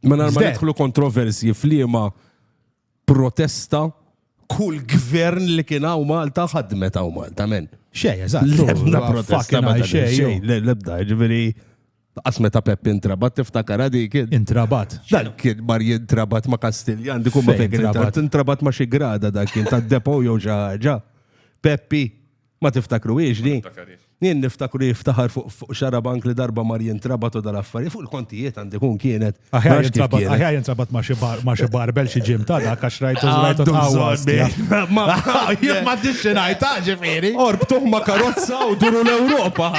Mela ma nidħlu kontroversji f'liema protesta kull gvern li kien hawn Malta ħadmet hawn Malta men. Xej, eżatt. Lebda protesta ma xej, lebda, ġifieri Qas meta Peppi intrabat tiftakar għadi kien. Intrabat. Dan kien mar jintrabat ma' Kastiljan, dikum ma' fejn intrabat. Intrabat ma' xi grada dak kien ta' depo jew xi ħaġa. Peppi, Ma tiftakruhiex Ma di? niftakariex. Jien niftakru jiftaħar fuq fuq xarabank li darba mar jintrabat u dal-affarijiet fuq il-kontijiet għandi kun kienet. Ma Aħjar nafx kif jintrabat, kienet. aħjar jintrabat ma' xi bar, ma' xi barbel xi ġim ta' dak għax rajtu rajtu Għandu tħawwas. bżonn, eh. Ma- ma- Jien ma tix ngħid ta' ġifieri. Orbtuh ma' karozza u duru l-Ewropa.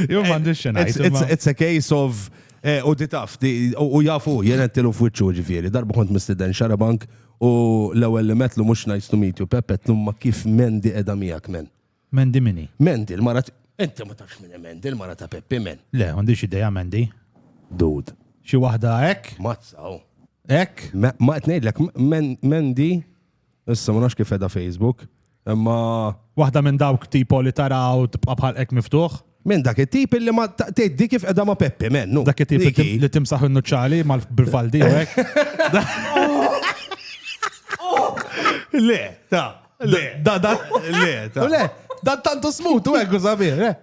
Jien ma għandix xi It's, ngħid. it's, imma- it's a case of eh, u di taf, di- u u jafu, jien għettilu f'wiċċu ġifieri. Darba kont mistiden xarabank U l-ewwel li metlu mhux nice to meet you Peppe qed llum ma kif Mandy qiegħda miegħek men. Mandy min hi? Mandy l-mara Inti ma tafx min hi Mandy l-mara ta' Peppi men. Le, m'għandix idea Mandy. Dude. Xi waħda hekk? Mazza hu. Hekk? Ma qed ngħidlek Mandy issa ma nafx kif qiegħda Facebook. Imma. Waħda minn dawk tipo li taraw tibqa' bħal hekk miftuħ? Minn dak it-tip li ma tgħiddi kif qiegħda ma' Peppi, mennu. Dak it-tip li timsaħ in-nuċċali bil-faldi u hekk. Le, ta' le, da da le, ta' le, da tantu smut u hekk u sabir, eh.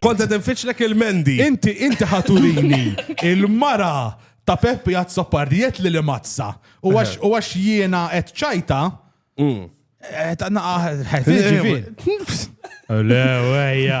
Kont qed infittxlek il-mendi. Inti inti ħaturini il-mara ta' Peppi Azzopardi jett li li mazza. U għax jiena qed ċajta. Qed naqaħ. Le, wejja.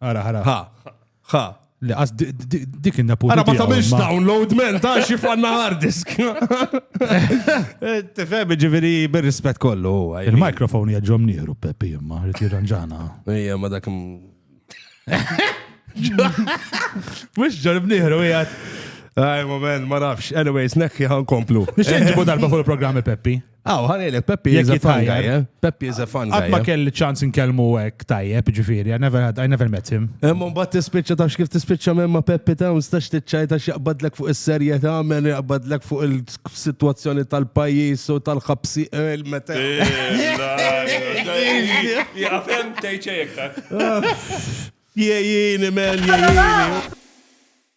Ara, ara. Ha, ha. Le, għas dik inna punt. Ara ma tamilx download men, ta' xi fanna hard disk. Eh, tifhem ġifieri bir-rispett kollu. Il-mikrofon jaġġom nieħru Peppi imma rrid jirranġana. Ejja ma dak. Mhux ġorb nieħru qiegħed. Aj, moment, ma nafx. Anyways, nekki ħan komplu. Nixin ġibu darba fuq il-programmi Peppi. Aw, ħanejlek, Peppi is a fun guy, eh? Peppi is a fun guy. Għatma eh? kelli ċans nkellmu għek tajjeb, ġifiri, I never had, I never met him. Imma bat tispicċa tafx kif tispicċa minn ma Peppi ta' stax tiċċaj ta' xaqbadlek fuq is-serje ta' men jaqbadlek fuq il-situazzjoni tal-pajis u tal-ħabsi il-meta. Jgħafem tejċejk ta' Jiejini, men, jiejini.